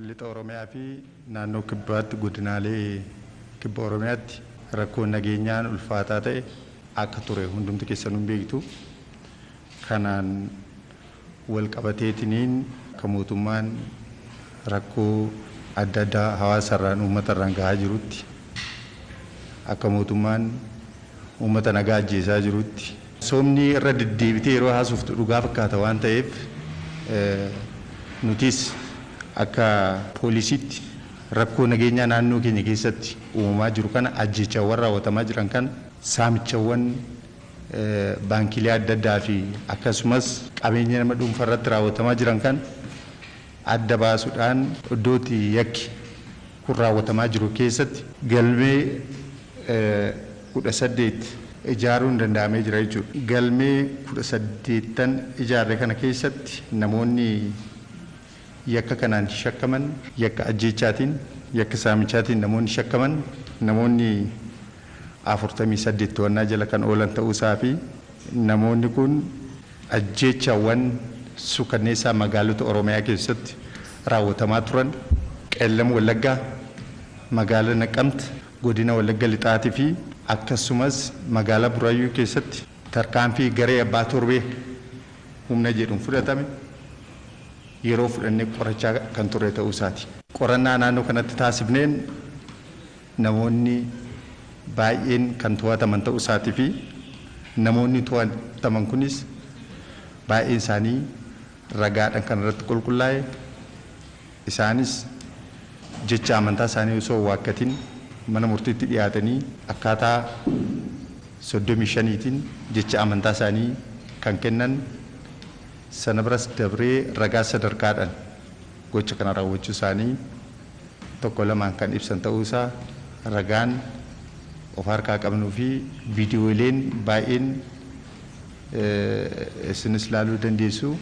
Lixa Oromiyaa fi Naannoo Kibbaatti godinaalee Kibba Oromiyaatti rakkoon nageenyaan ulfaataa ta'e akka ture hundumti keessanuu hin beektu. Kanaan wal qabateetiniin akka mootummaan rakkoo adda addaa hawaasa irraan uummata irraan gahaa jirutti akka mootummaan uummata nagaa ajjeesaa jirutti Soomni irra deddeebitee yeroo haasoftu dhugaa fakkaata waan ta'eef nutis akka. Poolisiitti rakkoo nageenyaa naannoo keenya keessatti uumamaa jiru kana, ajjeechaawwan raawwatamaa jiran kana, saamichawwan baankiilee adda addaa fi akkasumas qabeenya nama dhuunfaa irratti raawwatamaa jiran kana adda baasuudhaan iddoo itti yakki kun raawwatamaa jiru keessatti galmee 18 ijaaruun danda'amee jira jechuudha. Galmee 18n ijaarre kana keessatti namoonni yakka kanaan shakkaman, yakka ajjeechaatiin, yakka saamichaatiin namoonni shakkaman namoonni 48 to'annaa jala kan oolan ta'uu isaa fi namoonni kun. Ajjeechaawwan suukanneessaa magaalota Oromiyaa keessatti raawwatamaa turan Qeellam Wallaggaa, Magaala Naqamtt, Godina Wallagga Lixaati fi akkasumas Magaalaa Buraayyuu keessatti tarkaanfii garee abbaa torbee humna jedhuun fudhatame yeroo fudhannee qorachaa kan turre ta'uu isaati. Qorannaa naannoo kanatti taasifneen namoonni baay'een kan to'ataman ta'uu isaatii fi namoonni to'ataman kunis baay'een isaanii ragaadhaan kan irratti qulqullaa'e, isaanis jecha amantaa isaanii osoo hin waakkatin mana murtiitti dhiyaatanii akkaataa 35 tiin jecha amantaa isaanii kan kennan, sana biras dabree ragaa sadarkaadhaan. Gocha kana raawwachuu isaanii tokko lamaan kan ibsan ta'uu isaa ragaan of harkaa qabnuu fi viidiyooleen baay'een isinis laaluu dandeessu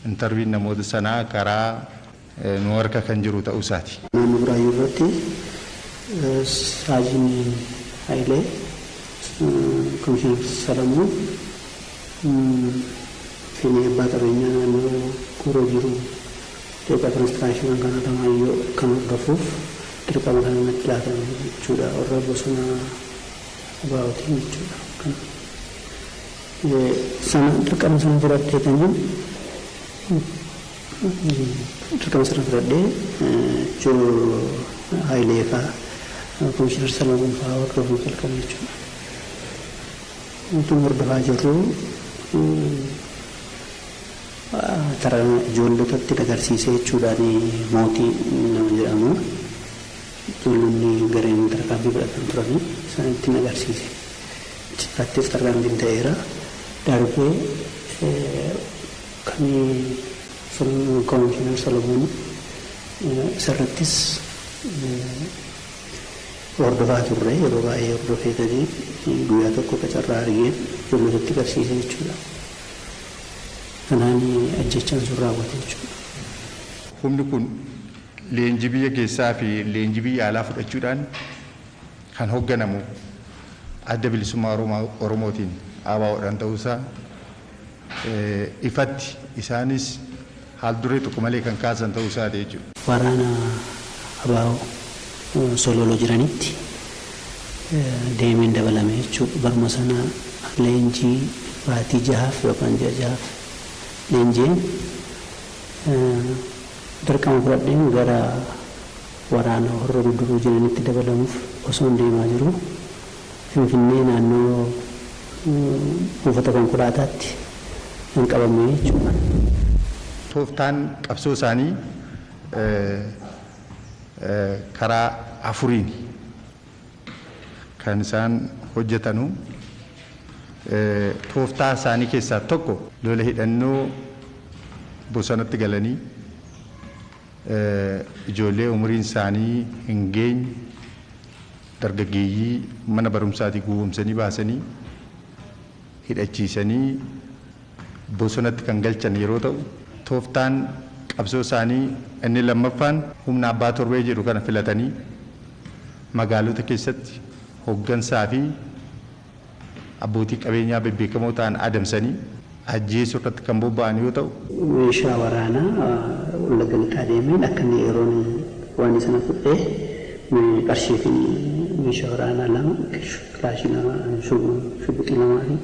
intarviin namoota sanaa karaa nu harka kan jiru ta'uu isaati. Naannoo Buraayyuu irratti Saajiin Hayilee, Komishinar Salamoon, Finee Abbaa Qabeenyaa Naannoo Gooroo Jiru Qeeqa Konistiraakshiniin Kan Alamaayyoo Kan Hordofuuf Dirqama Kana Natti Laatame Jechuudha Warra Bosona ABOtiin Jechuudha Kan Sana Dirqama Sana Fudhadheetaniin Dirqama Sana Fudhadhee Joo Hayilee Faa Komishinar Salamoon Faa Hordofuun Jalqabe Jechuudha. Wanti hordofaa jirru tara ijoollotatti dagarsiisee jechuudhaan Mootii nama jedhamu ijoollonni gareen tarkaanfii fudhatan turani isaanitti hin agarsiise. Achirraattis tarkaanfiin ta'eera. Darbee kan Komishinar Solomoon isarrattis Hordofaa turre yeroo baay'ee hordofee gadi guyyaa tokko akka carraa argeen ijoollotatti garsiise jechuudha. Kanaan ajjeechaan sun raawwate jechuudha. Humni kun leenjii biyya keessaa fi leenjii biyya alaa fudhachuudhaan kan hogganamu Adda Bilisummaa Oromootiin, ABOdhaan, ta'uu isaa, ifatti isaanis haal duree tokko malee kan kaasan ta'uu isaati jechuudha. Waraana abo Sololo jiranitti deemeen dabalame jechuudha. Baruma sana leenjii baatii jahaaf yookaan ji'a jahaaf leenji'een dirqama fudhadheen gara waraana Horro Guduruu jiranitti dabalamuuf osoon deemaa jiruu, Finfinnee naannoo buufata konkolaataatti kan qabame jechuudha. Tooftaan qabsoo isaanii karaa afuriini kan isaan hojjetanu. Tooftaa isaanii keessaa tokko lola hidhannoo bosonatti galanii ijoollee umuriin isaanii hin geenye, Dargaggeeyyii mana barumsaatii gowwoomsanii baasanii hidhachiisanii bosonatti kan galchan yeroo ta'u, tooftaan qabsoo isaanii inni lammaffaan humna abbaa torbee jedhu kana filatanii magaalota keessatti hoggansaa fi. abbootii qabeenyaa bebbeekamoo ta'an adamsanii ajjeesuu irratti kan bobba'an yoo ta'u, meeshaa waraanaa Wallagga Lixaa deemeen akka inni yeroon waanii sana fudhee qarshii fi meeshaa waraanaa lama, kilaashii lama, shuguxii lamaa fi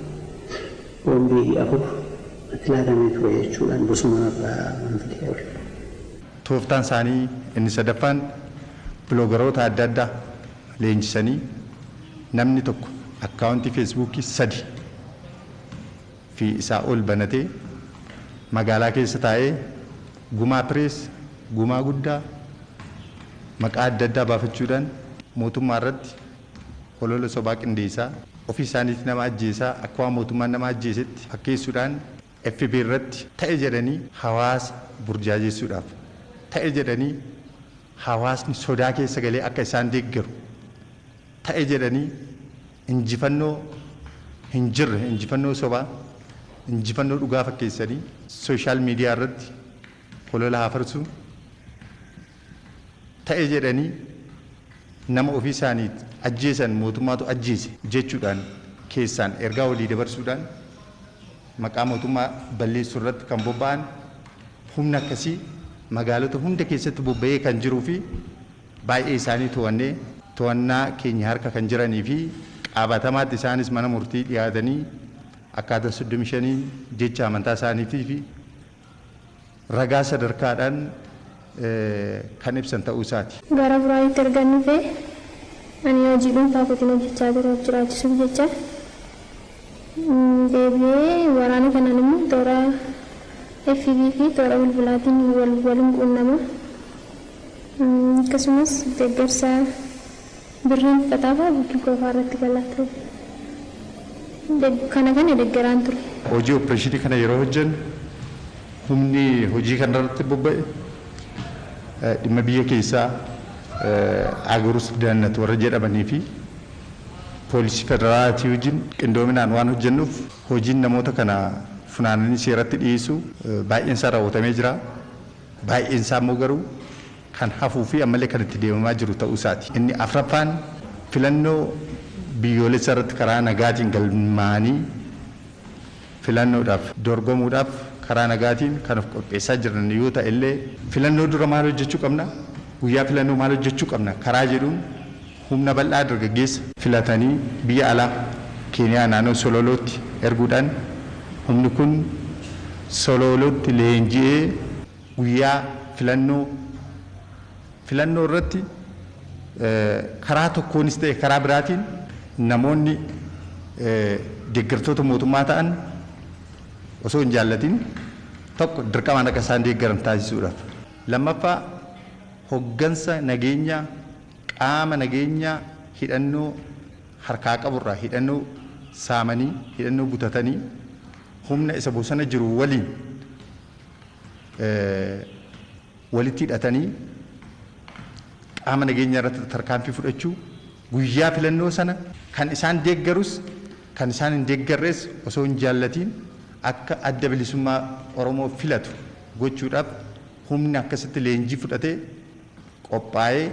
boombii afur natti laatamee ture jechuudhaan bosona narraa waan fidee ol. Tooftaan isaanii inni sadaffaan biloogaroota adda addaa. leenjisanii namni tokko akkaawuntii feesbuukii sadi fi isaa ol banatee magaalaa keessa taa'ee gumaa pirees, gumaa guddaa maqaa adda addaa baafachuudhaan mootummaa irratti holola sobaa qindeessaa, ofii isaaniitii nama ajjeesaa akka waan mootummaan nama ajjeesetti fakkeessuudhaan fb irratti ta'e jedhanii hawaasa burjaajessuudhaaf, ta'e jedhanii hawaasni sodaa keessa galee akka isaan deeggaru, ta'e jedhanii injifannoo hin jirre, injifannoo sobaa, injifannoo dhugaa fakkeessanii social media irratti holola hafarsuun, ta'e jedhanii nama ofii isaanii ajjeesan mootummaatu ajjeese jechuudhaan keessaan ergaa walii dabarsuudhaan maqaa mootummaa balleessuu irratti kan bobba'an humna akkasii magaalota hunda keessatti bobba'ee kan jiruu fi baay'ee isaanii to'annee to'annaa keenya harka kan jiranii fi qaabatamaatti isaanis mana murtii dhiyaatanii akkaataa 35n jecha amantaa isaaniitii fi ragaa sadarkaadhaan kan ibsan ta'uu isaati. Gara Buraayyuutti ergan dhufe ani hojii dhuunfaa kootiin hojjechaa ture of jiraachisuuf jecha. Deebi'ee waraana kanaan immoo toora FB fi toora bilbilaatiin wal walin quunnama. Akkasumas deeggarsa. Birriin kitaabaa bukkii qofaa irratti galaa ture. Kana kana deggeraan ture. Hojii oppireeshinii kana yeroo hojjennu humni hojii kana irratti bobba'e dhimma biyya keessaa, Agorus Daannat warra jedhamanii fi poolisii federaalaatii wajjin qindoominaan waan hojjennuuf hojiin namoota kana funaananii seeratti dhiyeessuu baay'een isaa raawwatamee jira. Baay'een isaa immoo garuu kan hafuu fi ammallee kan itti deemamaa jiru ta'uu isaati. Inni afraffaan filannoo biyyoolessaa irratti karaa nagaatiin galmaa'anii filannoodhaaf dorgomuudhaaf karaa nagaatiin kan of qopheessaa jiran yoo ta'e illee, filannoo dura maal hojjechuu qabna, guyyaa filannoo maal hojjechuu qabna karaa jedhuun humna bal'aa dargaggeessa. filatanii biyya alaa, Keeniyaa naannoo Sololootti erguudhaan humni kun Soloolootti leenji'ee, Guyyaa filannoo filannoo irratti karaa tokkoonis ta'e karaa biraatiin namoonni deeggartoota mootummaa ta'an osoo hin jaallatin tokko dirqamaan akka isaan deeggaran taasisuudhaaf. Lammaffaa hoggansa nageenyaa qaama nageenyaa hidhannoo harkaa qabu irraa hidhannoo saamanii hidhannoo butatanii humna isa bosona jiru waliin walitti hidhatanii qaama nageenyaa irratti tarkaanfii fudhachuu, guyyaa filannoo sana kan isaan deeggarus kan isaan hin deeggarres osoo hin jaallatiin akka Adda Bilisummaa Oromoo filatu gochuudhaaf humni akkasitti leenjii fudhatee qophaa'ee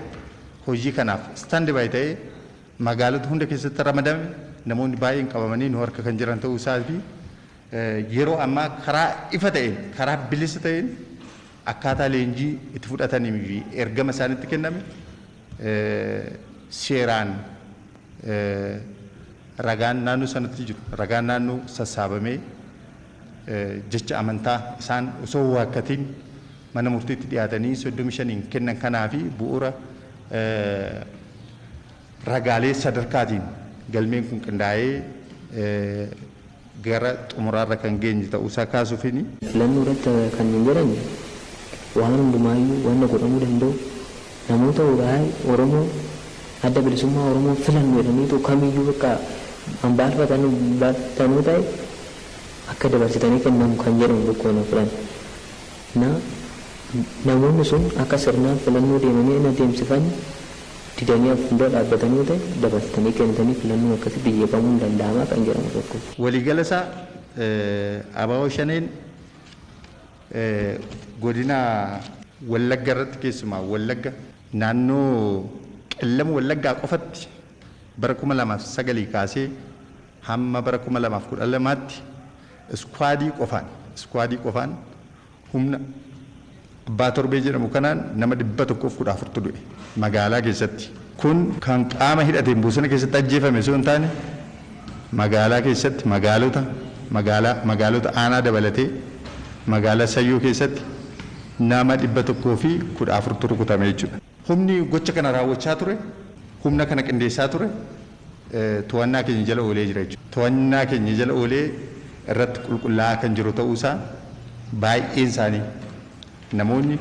hojii kanaaf stand by ta'ee magaalota hunda keessatti ramadame namoonni baay'een qabamanii nu harka kan jiran ta'uu isaa fi yeroo ammaa karaa ifa ta'een, karaa bilisa ta'een akkaataa leenjii itti fudhatanii fi ergama isaanitti kenname seeraan ragaan naannoo sanatti jiru, ragaan naannoo sassaabamee jecha amantaa isaan osoo waakkatiin mana murtiitti dhiyaatanii 35n kennan kanaa fi bu'uura ragaalee sadarkaatiin galmeen kun qindaa'ee gara xumuraarra kan geenye ta'uusaa kaasuufini. Filannoorratti kanneen jedhan waan hundumaayyuu wanna godhamuu danda'u namoota wly Oromoo Adda Bilisummaa Oromoo filannu jedhaniitoo kamiyyuu bakka kan baalfatan baalfatanoo ta'e akka dabarsitanii kennamu kan jedhan tokkoon hin fudhanne. Na, namoonni sun akka sirnaan filannoo deemanii hin adeemsifanne. didanii akka fuuldura dhaabbatan yoo ta'e dabarsitanii kennitanii filannoon akkasitti jeeqamuun ni danda'amaa kan jedhamu tokko. Waliigala isaa abo Shaneen godina. Wallagga irratti keessumaa Wallagga naannoo Qellem Wallaggaa qofatti bara 2009 kaasee hamma bara 2012tti iskuwaadii qofaan iskuwaadii qofaan Humna Abbaa Torbee jedhamu kanaan nama 114tu du'e magaalaa keessatti. Kun kan qaama hidhateen bosona keessatti ajjeefame osoo hin taane magaalaa keessatti magaalota magaalaa magaalota aanaa dabalatee magaalaa Sayyoo keessatti nama 114tu rukutame jechuudha. Humni gocha kana raawwachaa ture, humna kana qindeessaa ture to'annaa keenya jala oolee jira jechuudha. To'annaa keenya jala oolee irratti qulqullaa'aa kan jiru ta'uu isaa baay'een isaanii namoonni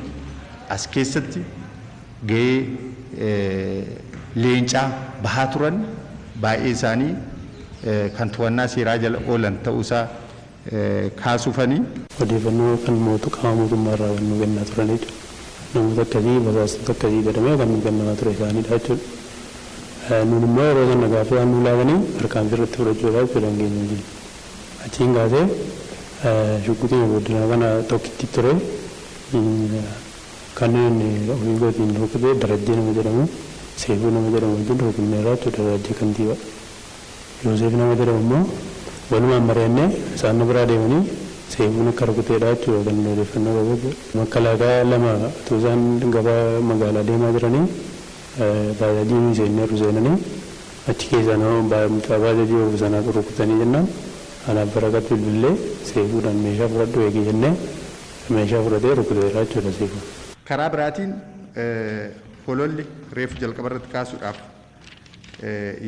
as keessatti gahee leencaa bahaa turan baay'een isaanii kan to'annaa seeraa jala oolan ta'uu isaa kaasufani. Odeeffannoo kan mootu qaama mootummaa irraa kan nuu kennaa turanidha. Namoota akkasii, basaastota akkasii jedhamee kan nuu kennamaa ture isaanidha jechuudha. Nuun immoo yeroo sana gaaffii waan nuu laataniif tarkaanfii irratti fudhachuu irraa jechuudha hin geenye jenne. Achiin kaasee shugguxiima booddanaa kana tokkitti ture kanin ofii kootiin rukute Darajjee nama jedhamu, Seefuu nama jedhamu wajjin rukunneerra jechuudha, Darajjee Kantiibaa. Yooseef nama jedhamu immoo walumaan mari'annee isaan nu biraa deemanii Seefuun akka rukuteedha jechuudha kan nuti odeeffannoo qabu jechuudha. Makkalaakaa lama utuu isaan gara magaalaa deemaa jiranii baajaajii nuyi seenneerru seenanii achi keessaa nama mucaa baajaajii oofu sana rukutanii jennaan anaaf Baraqat bilbillee Seefuudhaan meeshaa fudhadhu eegi jennee meeshaa fudhatee rukuteera jechuudha Seefuun. Karaa biraatiin hololli reefu jalqabarratti kaasuudhaaf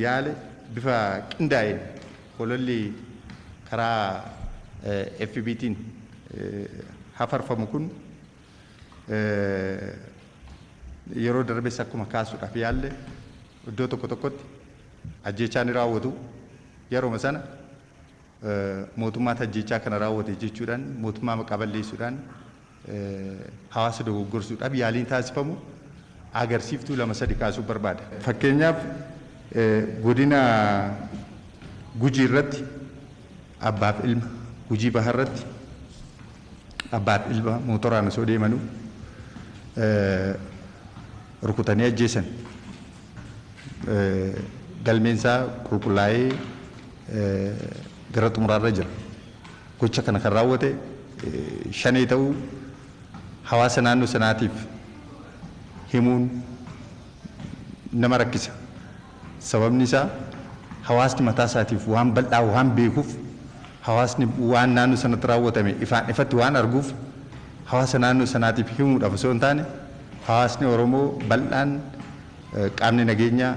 yaale bifa qindaa'een hololli karaa FBTiin hafarfamu kun yeroo darbes akkuma kaasuudhaaf yaalle iddoo tokko tokkotti ajjeechaa ni raawwatu. Yeruma sana mootummaatu ajjeechaa kana raawwate jechuudhaan mootummaa maqaa balleessuudhaan hawaasa dogoggorsuudhaaf yaaliin taasifamu agarsiiftuu lama sadi kaasuun barbaada. Fakkeenyaaf godina Gujii irratti abbaaf ilma, Gujii Baha irratti abbaaf ilma mootoraan osoo deemanuu rukutanii ajjeesan. Galmeen isaa qulqullaa'ee gara xumuraarra jira. Gocha kana kan raawwate Shanee ta'uu hawaasa naannoo sanaatiif himuun nama rakkisa. Sababni isaa hawaasni mataa isaatiif waan bal'aa waan beekuuf, hawaasni waan naannoo sanatti raawwatame ifaan ifatti waan arguuf hawaasa naannoo sanaatiif himuudhaaf osoo hin taane hawaasni Oromoo bal'aan qaamni nageenyaa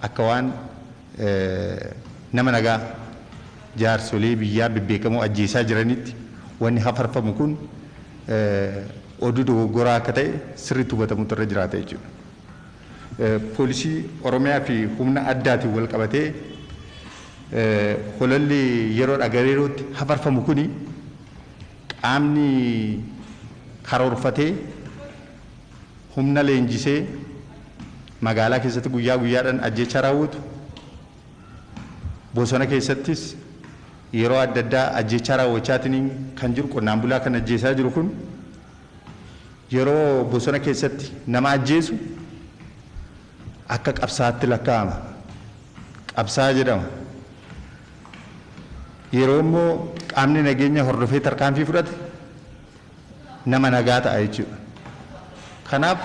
akka waan nama nagaa jaarsolee biyyaa bebbeekamoo ajjeesaa jiranitti wanni hafarfamu kun oduu dogoggoraa akka ta'e sirriitti hubatamuutu irra jiraata jechuudha. Poolisii Oromiyaa fi humna addaatiin wal qabatee hololli yeroodhaa gara yerootti hafarfamu kuni qaamni karoorfatee humna leenjisee magaalaa keessatti guyyaa guyyaadhaan ajjeechaa raawwatu, bosona keessattis yeroo adda addaa ajjeechaa raawwachaatiin kan jiru qonnaan bulaa kan ajjeesaa jiru kun yeroo bosona keessatti nama ajjeesu akka qabsaatti lakkaa'ama. Qabsaa jedhama. Yeroo immoo qaamni nageenya hordofee tarkaanfii fudhate nama nagaa ta'a jechuudha. Kanaaf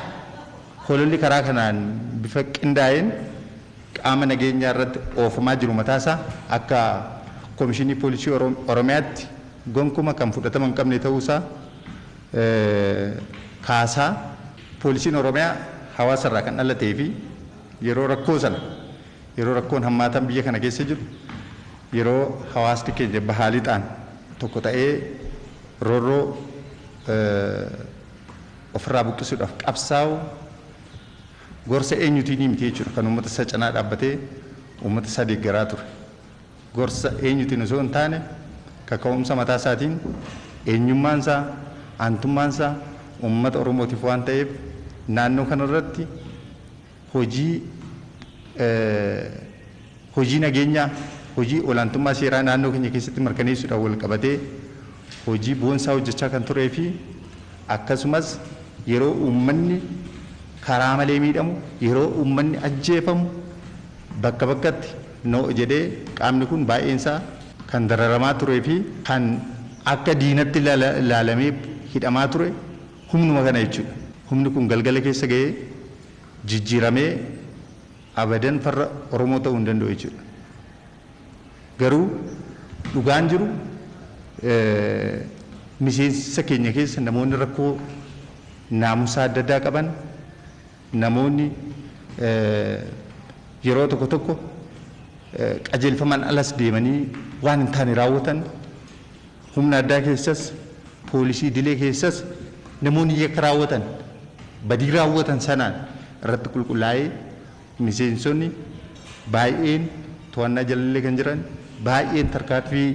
hololli karaa kanaan bifa qindaa'een qaama nageenyaa irratti oofamaa jiru mataa isaa akka Komishinii Poolisii Oromiyaatti gonkuma kan fudhatama hin qabne ta'uu isaa kaasaa Poolisiin Oromiyaa hawaasa irraa kan dhalatee fi yeroo rakkoo sana Yeroo rakkoon hammaataan biyya kana keessa jiru, yeroo hawaasni keenya bahaa lixaan tokko ta'ee roorroo ofirraa buqqisuudhaaf qabsaa'u gorsa eenyutiinii miti jechuudha kan uummata isaa cinaa dhaabbatee uummata isaa deeggaraa ture. Gorsa eenyutiin osoo hin taane kaka'umsa mataa isaatiin eenyummaan isaa, aantummaan isaa uummata Oromootiif waan ta'eef naannoo kanarratti hojii hojii nageenyaa, hojii olaantummaa seeraa naannoo keenya keessatti mirkaneessuudhaan walqabatee hojii boonsaa hojjechaa kan turee fi akkasumas yeroo uummanni karaa malee miidhamu, yeroo uummanni ajjeefamu bakka bakkatti no jedhee qaamni kun baay'een isaa kan dararamaa turee fi kan akka diinatti ilaalamee hidhamaa ture, Humnuma kana jechuudha. Humni kun galgala keessa gahee jijjiiramee abadan farra Oromoo ta'uu hin danda'u jechuudha. Garuu dhugaan jiru miseensa keenya keessa namoonni rakkoo naamusaa adda addaa qaban Namoonni yeroo tokko tokko qajeelfamaan alas deemanii waan hin taane raawwatan, humna addaa keessas, poolisii idilee keessas namoonni yakka raawwatan, badii raawwatan sanaan irratti qulqullaa'ee miseensonni baay'een to'annaa jalallee kan jiran, baay'een tarkaanfii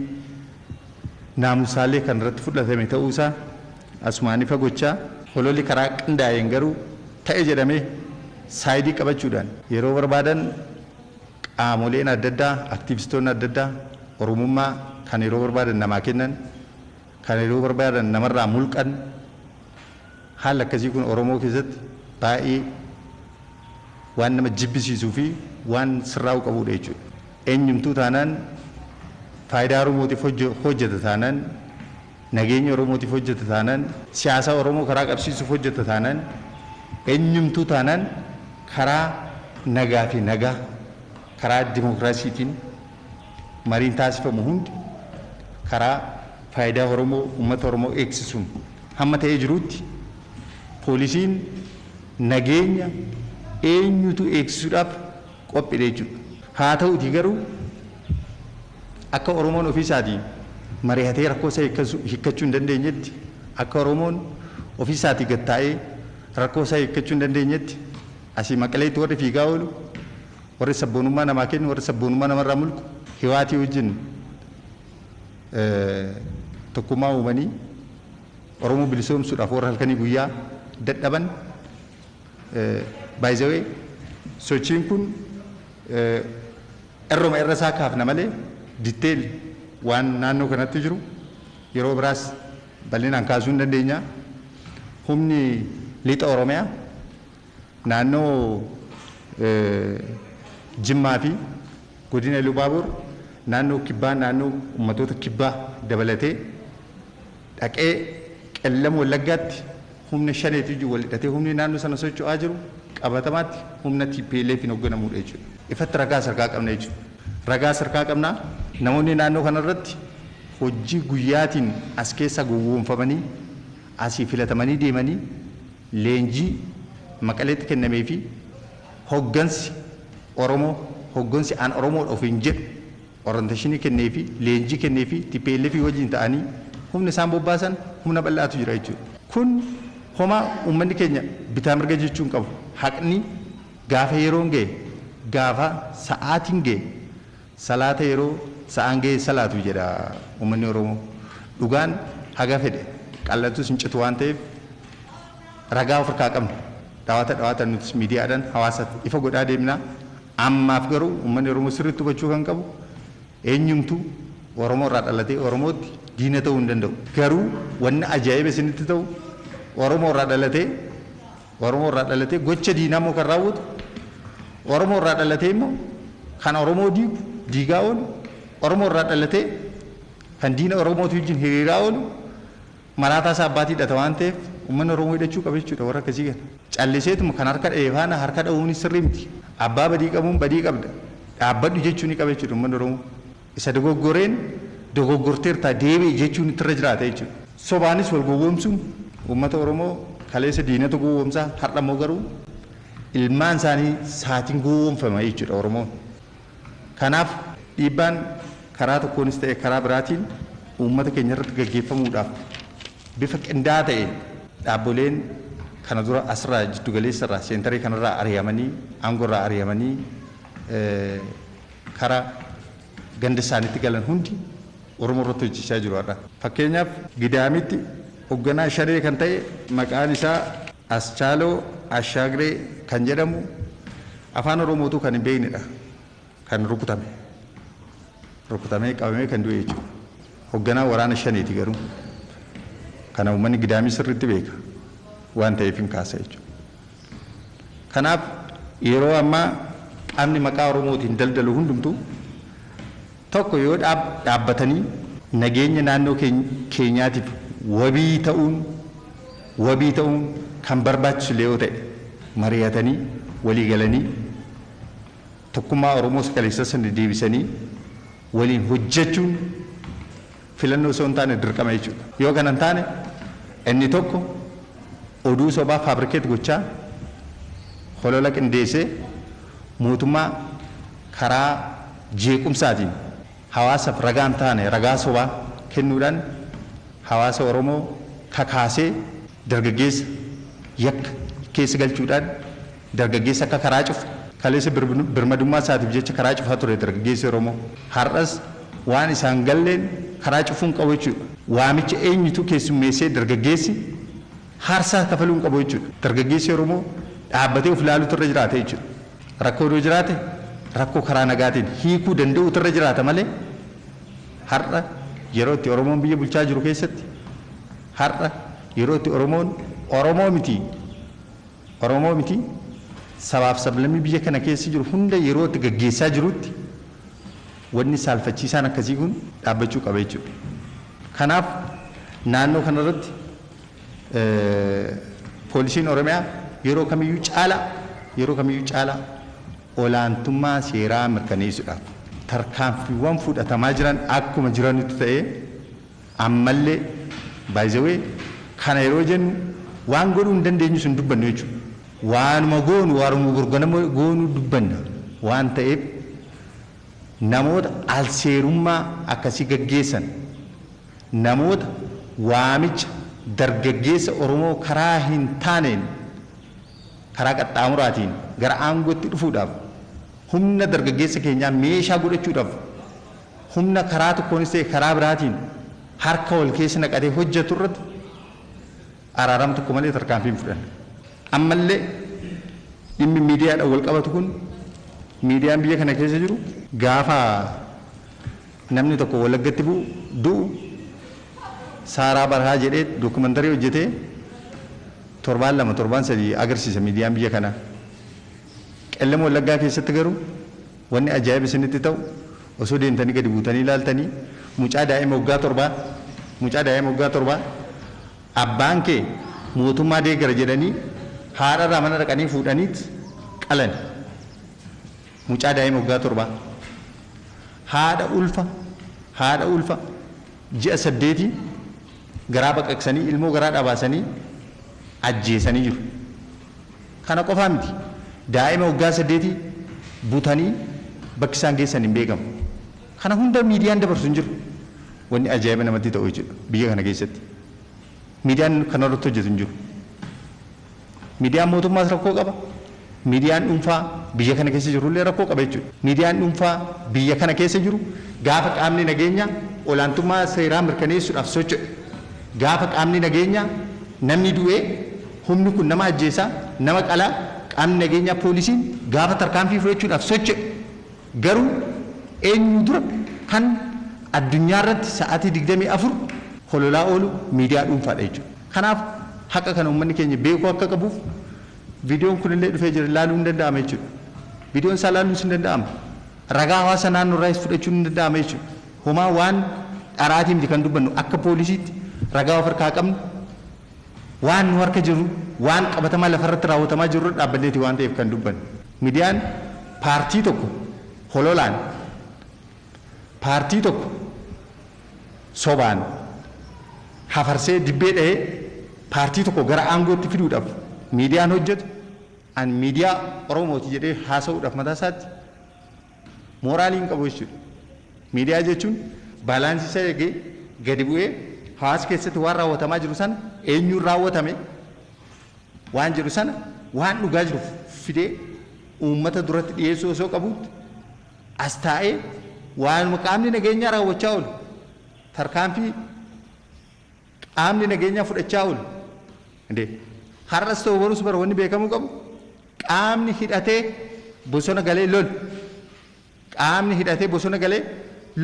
naamusaallee kan irratti fudhatame ta'uu isaa, Asumaan ifa gochaa. Hololli karaa qindaa'een garuu ta'e jedhamee saayidii qabachuudhaan yeroo barbaadan qaamoleen adda addaa, aktiivistoonni adda addaa Oromummaa kan yeroo barbaadan namaa kennan, kan yeroo barbaadan namarraa mulqan haalli akkasii kun Oromoo keessatti baay'ee waan nama jibbisiisuu fi waan sirraa'uu qabuudha jechuudha. Eenyumtuu taanaan faayidaa Oromootiif hojjeta taanaan Nageenya Oromootiif hojjeta taanaan, siyaasaa Oromoo karaa qabsiisuuf hojjeta taanaan, enyumtuu taanaan karaa nagaa fi nagaa, karaa dimokiraasiitiin mariin taasifamu hundi karaa faayidaa Oromoo, ummata Oromoo eegsisuun hamma ta'ee jiruutti poolisiin nageenya eenyuutuu eegsisuudhaaf qophidha jechuudha. Haa ta'uutii garuu akka Oromoon ofii isaatii marihatee rakkoo isaa hiikkachuu hin dandeenyetti, akka Oromoon ofii isaatii gad taa'ee rakkoo isaa hiikkachuu hin dandeenyetti asii Maqaleetti warri fiigaa oolu, warri sabboonummaa namaa kennu, warri sabboonummaa namarraa mulqu Hiwaatii wajjin tokkummaa uumanii Oromoo bilisoomsuudhaaf warri halkanii guyyaa dadhaban, By the way, sochiin kun irruma irra isaa kaafna malee detail waan naannoo kanatti jiru yeroo biraas bal'inaan kaasuu hin dandeenya. Humni lixa Oromiyaa naannoo Jimmaa fi godina Iluu Baaboor naannoo kibbaa naannoo ummatoota kibbaa dabalatee dhaqee Qellam Wallaggaatti humna Shaneetu wajjin wal hidhatee humni naannoo sana socho'aa jiru qabatamaatti humna TPLFn hogganamuudha jechuudha. Ifatti ragaas harkaa qabna jechuudha. Ragaas harkaa qabna. Namoonni naannoo kanarratti hojii guyyaatiin as keessa gowwoomfamanii asii filatamanii deemanii leenjii Maqaleetti kennameefii hoggansi Oromoo, hoggansi an Oromoodha ofiin jedhu, Oranteeshinii kenneefii, leenjii kenneefii, tplf wajjin ta'anii humna isaan bobbaasan humna bal'aatu jira jechuudha. Kun homaa uummanni keenya bitaa mirga jechuu hin qabu. Haqni gaafa yeroon ga'e, gaafa sa'aatiin ga'e salaata yeroo sa'aan ga'e salaatu jedha uummanni Oromoo. Dhugaan haga fedhe qal'atus hin citu waan ta'eef. Ragaa of irkaa qabnu dhawaata dhawaatan nutis miidiyaadhan hawaasaf ifa godhaa deemnaa. Ammaaf garuu ummanni Oromoo sirriitti hubachuu kan qabu eenyumtu Oromoo irraa dhalatee Oromootti diina ta'uu hin danda'u. Garuu wanni ajaa'iba isinitti ta'u Oromoo irraa dhalatee Oromoo irraa dhalatee gocha diinaa immoo kan raawwatu Oromoo irraa dhalatee immoo kan Oromoo diigu diigaa oolu Oromoo irraa dhalatee kan diina Oromootii wajjin hiriiraa oolu Maraataa isaa abbaatii hidhata waan ta'eef uummanni Oromoo hidhachuu qaba jechuudha warra akkasii kana. Calliseetuma kan harka dhahe faana harka dhahuunis sirrii miti. Abbaa badii qabuun badii qabda dhaabbadhu jechuu ni qaba jechuudha uummanni Oromoo. Isa dogoggoreen dogoggorteertaa deebi'i jechuun itti irra jiraata jechuudha. Sobaanis wal gowwoomsuun uummata Oromoo kaleessa diinatu gowwoomsaa har'a immoo garuu ilmaan isaanii saatiin gowwoomfama jechuudha Oromoon. Kanaaf dhiibbaan karaa tokkoonis ta'e karaa biraatiin uummata keenya irratti gaggeeffamuudhaaf bifa qindaa'aa ta'een dhaabboleen kana dura asirraa jiddu galeessa irraa seentaree kanarraa ari'amanii aangoo irraa ari'amanii kara ganda isaaniitti galan hundi Oromoo irratti hojjechaa jiru har'a. Fakkeenyaaf Gidaamitti Hogganaa Shanee kan ta'e maqaan isaa. Aschaaloo Ashaagree kan jedhamu Afaan Oromoo utuu kan hin beeknedha kan rukutame. Rukutamee qabamee kan du'e jechuudha. Hogganaa waraana Shaneeti garuu. Kana uummanni Gidaamii sirriitti beeka. Waan ta'eefin kaasa jechuudha. Kanaaf yeroo ammaa qaamni maqaa Oromootiin daldalu hundumtuu. tokko yoo dhaabbatanii nageenya naannoo keenyaatiif wabii ta'uun wabii ta'uun kan barbaachisu illee yoo ta'e mari'atanii walii galanii tokkummaa Oromoo isa kaleessaa sana deebisanii waliin hojjechuun Filannoo osoo hin taane dirqama jechuudha. Yoo kana hin taane inni tokko oduu sobaa fabricate gochaa holola qindeessee mootummaa karaa jeequmsaatiin hawaasaf ragaa hin taane ragaa sobaa kennuudhaan hawaasa Oromoo kakaasee dargaggeessa yakka keessa galchuudhaan Dargaggeessi akka karaa cufu. Kaleessa birmadummaa isaatiif jecha karaa cufaa ture dargaggeessi Oromoo. Har'as waan isaa hin galleen karaa cufuu hin qabu jechuudha. Waamicha eenyutu keessummeessee dargaggeessi haarsaa kafaluu hin qabu jechuudha. Dargaggeessi Oromoo dhaabbatee of ilaaluutu irra jiraata jechuudha. Rakkoon yoo jiraate rakkoo karaa nagaatiin hiikuu danda'uutu irra jiraata malee har'a yeroo itti Oromoon biyya bulchaa jiru keessatti, har'a yeroo itti Oromoon Oromoo miti Oromoo miti, sabaaf sablammii biyya kana keessa jiru hunda yeroo itti gaggeessaa jirutti wanni saalfachiisaan akkasii kun dhaabbachuu qaba jechuudha. Kanaaf naannoo kana irratti poolisiin Oromiyaa yeroo kamiyyuu caalaa yeroo kamiyyuu caalaa olaantummaa seeraa mirkaneessuudhaaf tarkaanfiiwwan fudhatamaa jiran akkuma jiranitti ta'ee Ammallee by the way kana yeroo jennu waan godhuu hin dandeenyus hin dubbannu jechuudha. Waanuma goonu waaruma borganama goonu dubbanna waan ta'eef namoota alseerummaa akkasii gaggeessan namoota waamicha dargaggeessa Oromoo karaa hin taaneen karaa qaxxaamuraatiin gara aangootti dhufuudhaaf humna dargaggeessa keenyaa meeshaa godhachuudhaaf humna karaa tokkoonis ta'e karaa biraatiin harka wal keessa naqatee hojjetu irratti araarama tokko malee tarkaanfii hin fudhanne. Ammallee dhimmi miidiyaadhaan wal qabatu kun miidiyaan biyya kana keessa jiru gaafa namni tokko Wallaggatti bu'u du'u Saaraa Barhaa jedhee dookumantarii hojjetee torbaan lama torbaan sadii agarsiisa miidiyaan biyya kanaa. Qellem Wallaggaa keessatti garuu Wanni ajaa'iba isinitti ta'u osoo deemtanii gadi buutanii ilaaltanii mucaa daa'ima waggaa torbaa mucaa daa'ima waggaa torbaa abbaan kee mootummaa deeggara jedhanii haadha irraa mana dhaqanii fuudhaniit qalani. Mucaa daa'ima waggaa torbaa. Haadha ulfa haadha ulfa ji'a saddeetii garaa baqaqsanii ilmoo garaadhaa baasanii ajjeesanii jiru. Kana qofaa miti, daa'ima waggaa saddeetii butanii bakki isaan geessan hin beekamu. Kana hunda miidiyaan dabarsu hin jiru. Wanni ajaa'iba namatti ta'u jechuudha biyya kana keessatti. Miidiyaan kana irratti hojjetu hin jiru. Miidiyaan mootummaas rakkoo qaba. Miidiyaan dhuunfaa biyya kana keessa jiru illee rakkoo qaba jechuudha. Miidiyaan dhuunfaa biyya kana keessa jiru gaafa qaamni nageenyaa olaantummaa seeraa mirkaneessuudhaaf socho'e, gaafa qaamni nageenyaa namni du'ee Humni kun nama ajjeesaa, nama qalaa, qaamni nageenyaa poolisiin gaafa tarkaanfii fudhachuudhaaf socho'e garuu eenyuu dura kan addunyaa irratti sa'aatii 24 hololaa oolu miidiyaa dhuunfaadha jechuudha. Kanaaf haqa kana uummanni keenya beekuu akka qabuuf viidiyoon kunillee dhufee jira ilaaluun ni danda'ama jechuudha. Viidiyoon isaa ilaaluunis ni danda'ama. Ragaa hawaasa naannoo irraayis fudhachuun ni danda'ama jechuudha. Homaa waan dharaatii miti kan dubbannu akka poolisiitti ragaa of harkaa qabnu Waan nu harka jiru, waan qabatamaa lafarratti raawwatamaa jiru irra dhaabbanneeti waan ta'eef kan dubbannu. Midiyaan paartii tokko hololaan, paartii tokko sobaan hafarsee dibbee dhahee paartii tokko gara aangootti fiduudhaaf miidiyaan hojjetu an miidiyaa Oromooti jedhee haasa'uudhaaf mataa isaatti, Mooraalii hin qabu jechuudha. Miidiyaa jechuun baalaansii isa eegee gadi bu'ee hawaasa keessatti waan raawwatamaa jiru sana eenyuun raawwatame waan jedhu sana waan dhugaa jiru fidee uummata duratti dhiyeessuu osoo qabuutti as taa'ee waanuma qaamni nageenyaa raawwachaa oolu tarkaanfii Qaamni nageenyaa fudhachaa oolu. Indee. Har'as ta'u borus bara wanni beekamuu qabu qaamni hidhatee bosona galee lolu. Qaamni hidhatee bosona galee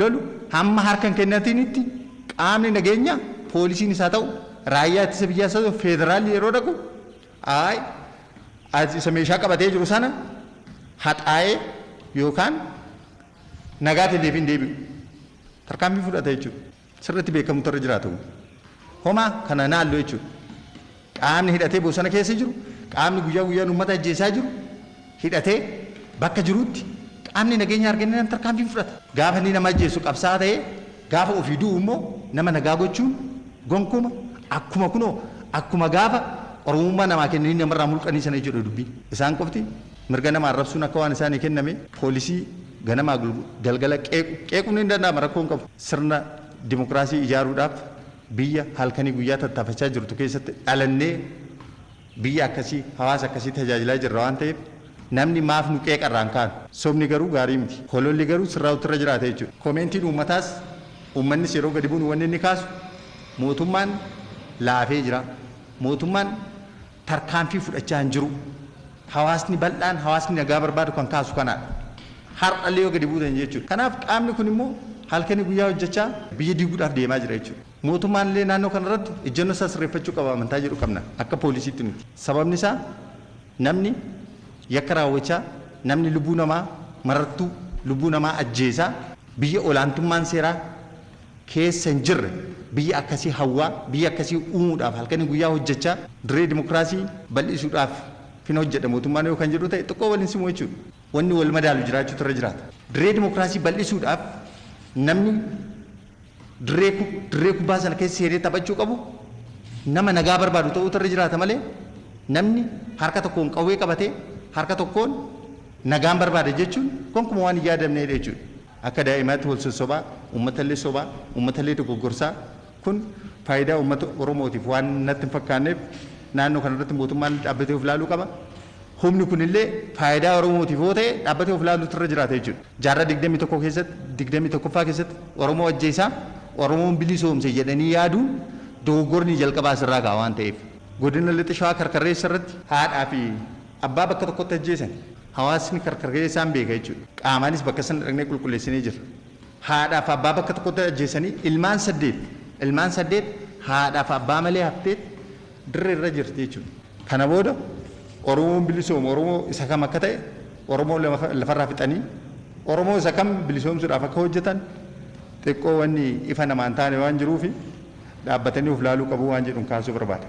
lolu hamma harka hin kennatinitti qaamni nageenyaa poolisiinis haa ta'u raayyaa ittisa biyyaas haa ta'u feederaalli yeroo dhaqu aay as isa meeshaa qabatee jiru sana haxaa'ee yookaan nagaatiin deebiin deebi'u tarkaanfii fudhata jechuudha. sirriitti beekamutu irra jiraata. Homaa kana hin haallu jechuudha. Qaamni hidhatee bosona keessa jiru, qaamni guyyaa guyyaan uummata ajjeesaa jiru, hidhatee bakka jirutti qaamni nageenya argannaan tarkaanfii hin fudhata. Gaafa inni nama ajjeesu qabsaa'aa ta'ee gaafa ofii du'u immoo nama nagaa gochuun gonkuma akkuma kunoo akkuma gaafa Oromummaa namaa kennanii namarraa mulqanii sana jechuudha dubbiin. Isaan qofti Mirga nama arrabsuun akka waan isaanii kenname poolisii ganamaa galgala qeequ qeequun ni danda'ama rakkoo hin qabu. Sirna dimokiraasii ijaaruudhaaf biyya halkanii guyyaa tattaafachaa jirtu keessatti dhalannee biyya akkasii hawaasa akkasii tajaajilaa jirra waan ta'eef namni maaf nu qeeqa irraa hin kaanu. Sobni garuu gaarii miti. Hololli garuu sirraa'uutti irra jiraata jechuudha. Komeentiin uummataas uummannis yeroo gadi bu'nu wanni inni kaasu mootummaan laafee jira, mootummaan. tarkaanfii fudhachaa hin jiru. Hawaasni bal'aan, hawaasni nagaa barbaadu kan kaasu kanaadha. Har'allee yoo gadi buutan jechuudha. Kanaaf qaamni kun immoo halkanii guyyaa hojjechaa biyya diiguudhaaf deemaa jira jechuudha. Mootummaan illee naannoo kana irratti ejjennoo isaa sirreeffachuu qaba amantaa jedhu qabna. Akka poolisiitti miti. Sababni isaa namni yakka raawwachaa, namni lubbuu namaa marartuu, lubbuu namaa ajjeesaa biyya olaantummaan seeraa, keessa hin jirre biyya akkasii hawwaa, biyya akkasii uumuudhaaf halkanii guyyaa hojjechaa dirree dimokiraasii bal'isuudhaaf fin hojjedha mootummaan yoo kan jedhu ta'e xiqqoo wal hin simu jechuudha. Wanni wal madaalu jiraachuutu irra jiraata. Dirree dimokiraasii bal'isuudhaaf namni dirree dirree kubbaa sana keessa seenee taphachuu qabu nama nagaa barbaadu ta'uutu irra jiraata malee namni harka tokkoon qawwee qabatee harka tokkoon nagaan barbaada jechuun gonkumaa waan hin yaadamneedha jechuudha. Akka daa'imaatti wal sossobaa, uummatallee sobaa, uummatallee dogoggorsaa, kun faayidaa uummata Oromootiif waan natti hin fakkaanneef naannoo kanarratti mootummaan dhaabbatee of ilaaluu qaba. Humni kunillee faayidaa Oromootiif yoo ta'e dhaabbatee of ilaaluutu irra jiraata jechuudha. Jaarraa 21 keessatti, 21ffaa keessatti Oromoo ajjeesaa, Oromoon bilisoomse jedhanii yaaduun dogoggorni jalqabaa asirraa ka'a waan ta'eef. Godina Lixa Shawaa Karkarreessarratti haadhaa fi Abbaa bakka tokkotti ajjeesan hawaasni karkar ga'ee isaan beeka jechuudha. Qaamaanis bakka sana dhaqnee qulqulleessinee jirra. Haadhaaf abbaa bakka tokkotti ajjeesanii ilmaan saddeet, ilmaan saddeet haadhaaf abbaa malee hafteet dirree irra jirti jechuudha. Kana booda Oromoon bilisoomu Oromoo isa kam akka ta'e Oromoo lafa irraa fixanii Oromoo isa kam bilisoomsuudhaaf akka hojjetan xiqqoo wanni ifa namaa hin taane waan jiruufi, dhaabbatanii of laaluu qabu waan jedhun kaasuu barbaada.